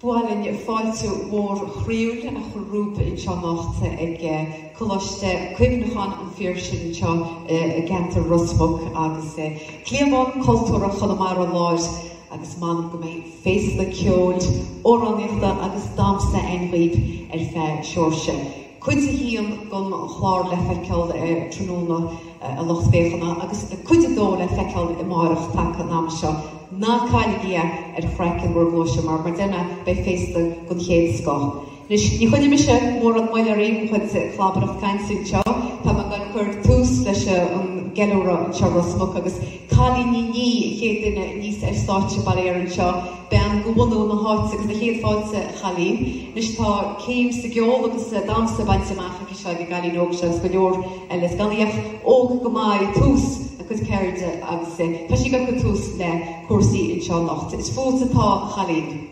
Ba mhaith linn fáilte mhór chroíúil a chur romhaibh anseo anocht ag Coláiste Cuimhneacháin an Phiarsaigh anseo i gceantar Ros Muc agus cliabhán cultúrtha Chonamara Láir agus m'anam go mbeidh féasta ceoil, amhránaíochta agus damhsa ann dhaoib ar feadh seáirse. Cuid a haon den chlár le feiceáil tráthnóna, a lucht féachana, agus cuid a dó le feiceáil amáireach taca an ama seo. Ná cailligí é ar chraiceann bhur gcluaise mar, mar d'eanna, beidh féasta den chéad scoth. Anois, ní choinneoidh mise mórán moille oraibh le mo chuid clabaireacht cainte anseo. Tá mé ag goil ag cur tús leis an gceiliúradh anseo, Ros Muc agus Cailín Ní Niaidh, an chéad duine aníos ar stáitse, bail ó Dhia uirthi, anseo, bean de bhunadh na háite agus na chéad fáilte a Chailín. Anois, tá céim sa gceol agus sa damhsa bainte amach aici seo ag an gcailín óg seo agus go leor eile. Is gan í ach óg go maith, ag tús a cuid ceirde agus tá sí ag cur tús le cúrsaí anseo anocht. Is fút atá a Chailín.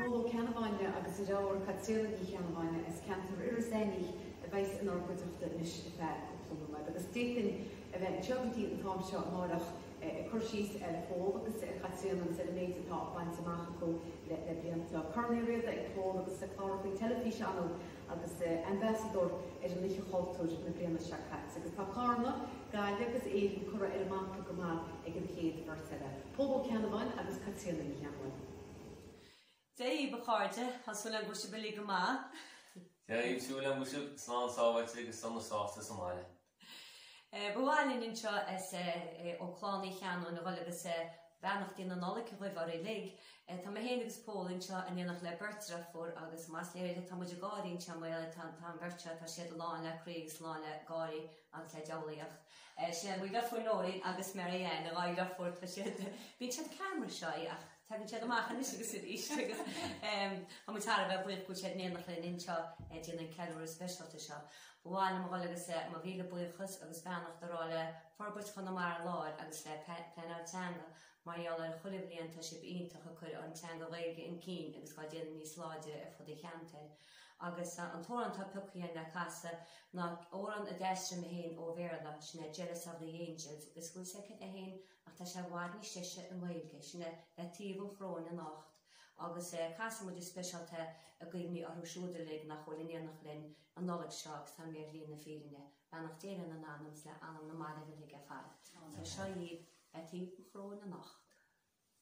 Pól Ó Ceannabháin agus a dheirfiúr Caitríona Ní Cheannabháin as ceantar Iorras Aithneach a bheas inár gcuideachta anois ar feadh cúpla lá eile agus d'fhéadfainn a bheith anseo go dtí an t-am seo amáireach ag cur síos ar Phól agus ar Chaitríona agus ar an méid atá bainte amach acu le blianta. Corn Uí Riada ag Pól agus is ag clár faoi teilifís anall agus ambasadóir ar an Oíche Chultúir na bliana seo caite agus tá Carna, Gaillimh agus Éirinn curtha ar an mapa go maith ag an chéad bheirt eile, Pól Ó Ceannabháin agus Caitríona Ní Cheannabháin. Dia dhaoibh a chairde, tá súil agam go bhfuil sibh uilig go maith. Tá súil agam go bhfuil sibh slán, sábháilte agus sona sásta sa mbaile. Ba mhaith linn anseo ó Clann Uí Cheannabháin a dhul agus beannachtaí na Nollag dhaoibh uilig. Tá mé féin agus Pól anseo in éineacht le beirt dheirfiúr agus mar is léir tá muid ag gáirí anseo mar gheall ar tá tá an bheirt seo tá siad lán le croí agus lán le gáirí agus le diabhlaíocht. Sin é, mo dheirfiúr Nóirín agus Mary Ann, a dhá dheirfiúr tá siad bíonn siad ceann mar seo ach. Tagann siad amach anois agus arís agus tá muid thar a bheith buíoch go bhfuil siad in éineacht linn anseo ag déanamh an ceiliúradh speisialta seo. Ba mhaith liom a dhul agus mo mhíle buíochas agus beannacht a rá le Forbairt Chonamara Láir agus le Pleanáil Teanga mar gheall ar chuile bhliain tá sibh iontach ag cur an teanga Ghaeilge chun cinn agus á déanamh níos láidre ar fud an cheantair. Agus an t-amhrán atá pioctha againn le casadh ná amhrán a d'aistrigh mé féin ó Bhéarla, sin é Jealous of the Angels, agus bhfuil sé aici féin Ach tá sé i bhfad níos deise i nGaeilge. Sin é, le taobh an choróin anocht. Agus casfaidh muid go speisialta i gcuimhne orthu siúd uilig nach bhfuil in éineacht linn an Nollaig seo agus atá imithe ar shlí na fírinne. Beannacht Dé lena n-anam agus le anam na mairbh uilig ar fad. Agus seo agat, le taobh an choróin anocht.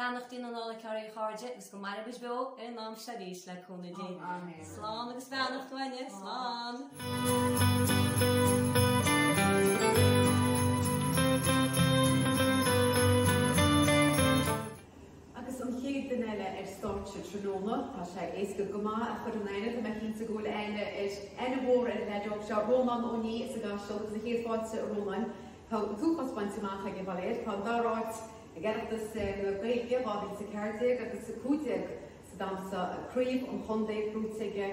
Beannachtaí na Nollag oraibh a chairde agus go maire muid beo ar an am seo arís le cúnamh Dé. Slán agus beannacht uainne. Slán. Agus an chéad duine eile ar stáitse tráthnóna, tá sé éasca go maith a chur in aithne, tá mé cinnte go bhfuil aithne mhór ar an leaid óg seo, Rónán Ó Nia as an gCaiseal agus céad fáilte a Rónáin. Tá an t-uafás bainte amach aige, bail air. Tá an dara áit ag Oireachtas na Gaeilge 2014 agus 15 sa damhsa, craobh an chontae buaite aige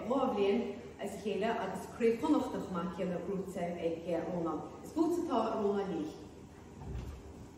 dhá bhliain as a chéile agus craobh Chonnacht chomh maith céanna buaite ag Rónán. Is buaiteoir atá i Rónán Lee.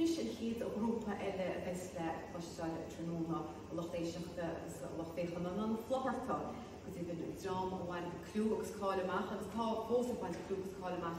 Anois an chéad ghrúpa eile a bheas le cloisteáil tráthnóna, a lucht éisteachta agus a lucht féachana ná na Flutharta. Go deimhin, an dream a bhain clú agus cáil amach agus atá fós ag baint clú agus cáil amach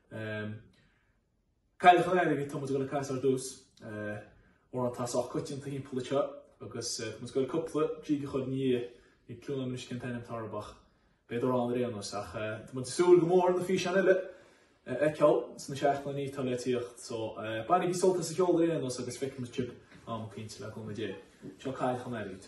Cailleach an Earraigh, tá muid ag dul a casadh ar dtús. Amhrán atá sách coitianta thimpeall anseo agus tá muid ag dul cúpla jig a chur ina dhiaidh ag Cluain Fhionn Uisce an t-ainm tarbach, beidh do roghanna ar aon nós ach tá muid ag súil go mór na físeáin eile a fheiceáil sna seachtainí atá le tíocht so bainigí sult as an gceol ar aon nós agus feicfimid sibh am eicínt le cúnamh Dé. Seo Cailleach an Earraigh.